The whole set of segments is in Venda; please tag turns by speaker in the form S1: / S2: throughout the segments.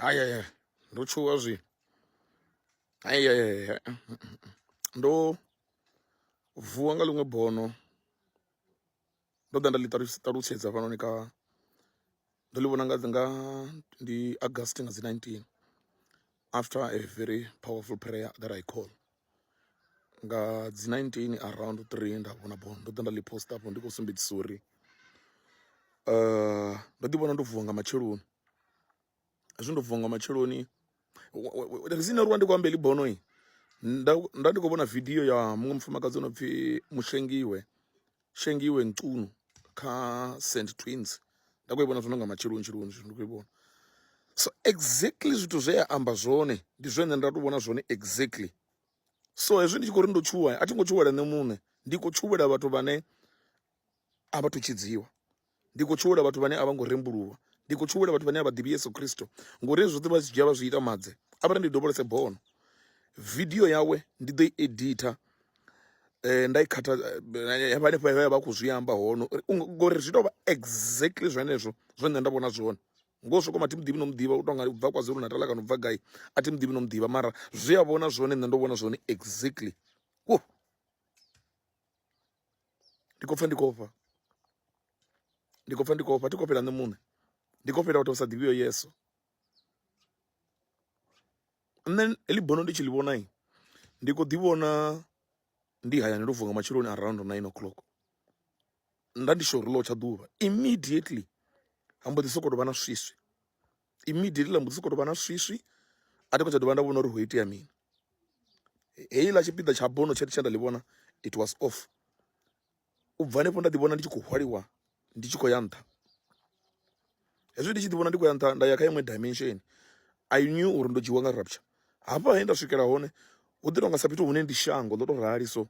S1: hayaya ndo tshuwa zwi hayaya ndo vuwa nga ḽiṅwe bono ndo ḓa nda ḽi ṱalutshedza hafhanoni kha ndo ḽi vhona nga nga ndi august nga dzi 19 after a very powerful prayer that i call nga dzi 19 around 3 nda vhona bono ndo ḓa nda ḽi post afho ndi khou sumbedzisa uri um ndo ḓi vhona ndo vuwa nga matsheloni hezwi ndo vuwa nga matsheloni rizini uri wa ndi khou amba heḽi bono nda ndi khou vhona vidio ya muṅwe mufumakadzi o no pfhi mushengiwe Shengiwe Ncunu kha St Twins nda khou i vhona zwino nga matsheloni tsheloni zwino ndi khou i vhona so exactly zwithu zwe a amba zwone ndi zwone nda tou vhona zwone exactly so hezwi ndi tshi khou ri ndo tshuwa a thi ngo tshuwela nṋe muṋe ndi khou tshuwela vhathu vhane a vha thu tshidziwa Ndi khou tshuwela vhathu vhane a vha ngo rembuluwa. Ndi khou tshuwela vhathu vhane a vha ḓivhi Yesu Kristo, ngori hezwi zwoṱhe vha zwi dzhia vha zwi ita madze. A vha ri ndi dovholose bono. Vidio yawe ndi ḓo i editha eh, nda i khatha eh, ya vha hanefho ya vha khou zwi amba hone uri u nga- ngori zwi tou vha exactly zwenezwo zwe nṋe nda vhona zwone ngo soko ma thi muḓivhi no muḓivha u tonga u bva kwazulu natala kana u bva gai a thi muḓivhi no muḓivha mara zwi a vhona zwone nṋe ndo vhona zwone exactly wo ndi khou pfa ndi khou ofha ndi khou pfa ndi khou ofha thi khou fhela nṋe muṋe ndi khou fhela vhathu vha sa ḓivhiyo yeso nṋe heḽi bono ndi tshi ḽi vhonai ndi khou ḓi vhona ndi hayani ndo vuwa matsheloni around nine o'clock nda ndi shori ḽo tsha ḓuvha immediately ha mbo ḓi sokou vha na swiswi immediately ḽa mbo ḓi sokou tovha na swiswi a thi khou tsha dovha nda vhona uri ho itea mini heiḽa tshipiḓa tsha bono tshe tshe nda ḽi vhona it was off u bva hanefho nda ḓi vhona ndi tshi khou hwaliwa ndi tshi khou ya nṱha hezwi ndi tshi ḓi vhona ndi khou ya nṱha nda ya kha iṅwe dimension i knew uri ndo dzhiwa nga rapture hafha he nda swikela hone hu ḓi tonga sa fhethu hune ndi shango ḽo to rali so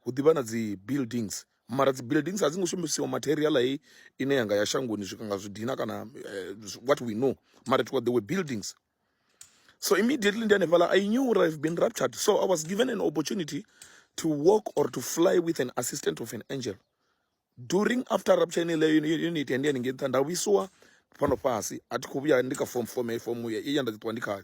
S1: hu ḓivha na dzi buildings mara dzi buildings a dzi ngo shumisiwa material hei ine yanga ya shangoni zwika nga zwidina kana uh, what we know mara it was there were buildings so immediately ndi hanefhala i knew or i've been raptured so i was given an opportunity to walk or to fly with an assistant of an angel during after rapture ine leyo unit yandi yanenge nṱha nda vhuisiwa fhano fhasi a thi khou vhuya ndi kha form form form ya ndi ṱuwa ndi khayo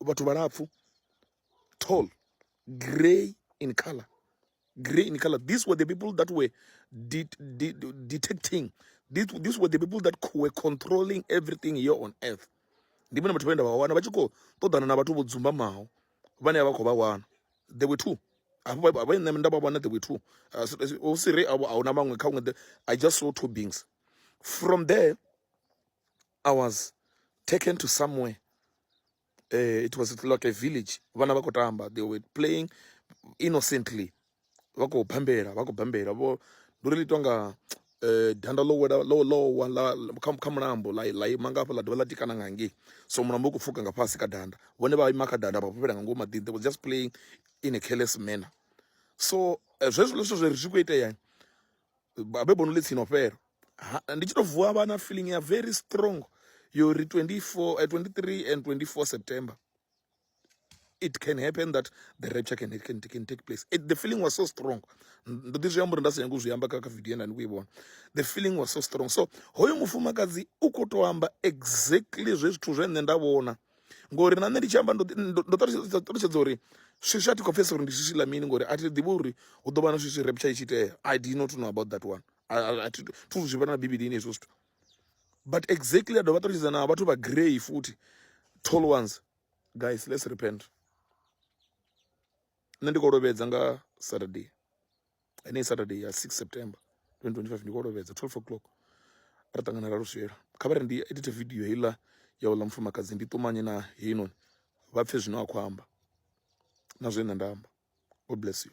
S1: vhathu vhalapfu tall grey in color grey in color these were the people that were de de detecting these, these were the people that were controlling everything here on earth ndi vhone vhathu vhane nda vha wana vha tshi khou ṱoḓana na vhathu vho dzumbamaho vhane vha khou vha wana they were two hafho vha nṋe nda vha wana they were two uh, hu si re a huna maṅwe kha vhuṅwe i just saw two beings from there i was taken to somewhere uh, it was like a village vana vha khou tamba they were playing innocently vha khou bambela vha khou bambela vho ndo ri litwa nga eh, danda ḽo wela ḽo ḽowa kha mulambo ḽa ḽa ima ngafha ḽa dovha ḽa tikana nga ngei so mulambo u khou pfuka nga fhasi kha danda vhone vha ima kha danda vha fhufhela nga ngomu maḓini they was just playing in a careless manner so eh, zwezwo zwithu zwe ri zwi khou itea babe bono ḽi tsino fhela ndi tshi to vuwa vha na feeling ya very strong yo ri 24 uh, 23 and 24 September it can happen that the rapture can, can, can take place it, the feeling was so strong ndo ḓi zwi amba uri nda sa nyanga u zwi amba kha kha video nda ni kuyi vhona the feeling was so strong so hoyo mufumakadzi u khou tou amba exactly zwe zwithu zwe nṋe nda vhona ngori na nṋe ndi tshi amba ndo ṱalutshedza uri swiswi a thi khou pfhesa uri ndi swiswi ḽa mini ngori a thi ḓivhi uri hu ḓo vha na swiswi repture i tshi itea i did not know about that one thi thu zwi vhona na bivhilini hezwo zwithu but exactly a dovha ṱalutshedza na vhathu vha grey futhi tall ones guys let's repent nṋe ndi khou lovhedza nga saturday ene saturday ya 6 september 2025 ndi kolovhedza 12 o'clock ra ṱangana ra luswela kha vha ri ndi edite video heiḽa ya uḽa mufumakadzi ndi ṱumanye na heinoni vha pfhe zwino a khou amba na zwe nṋe nda amba god bless you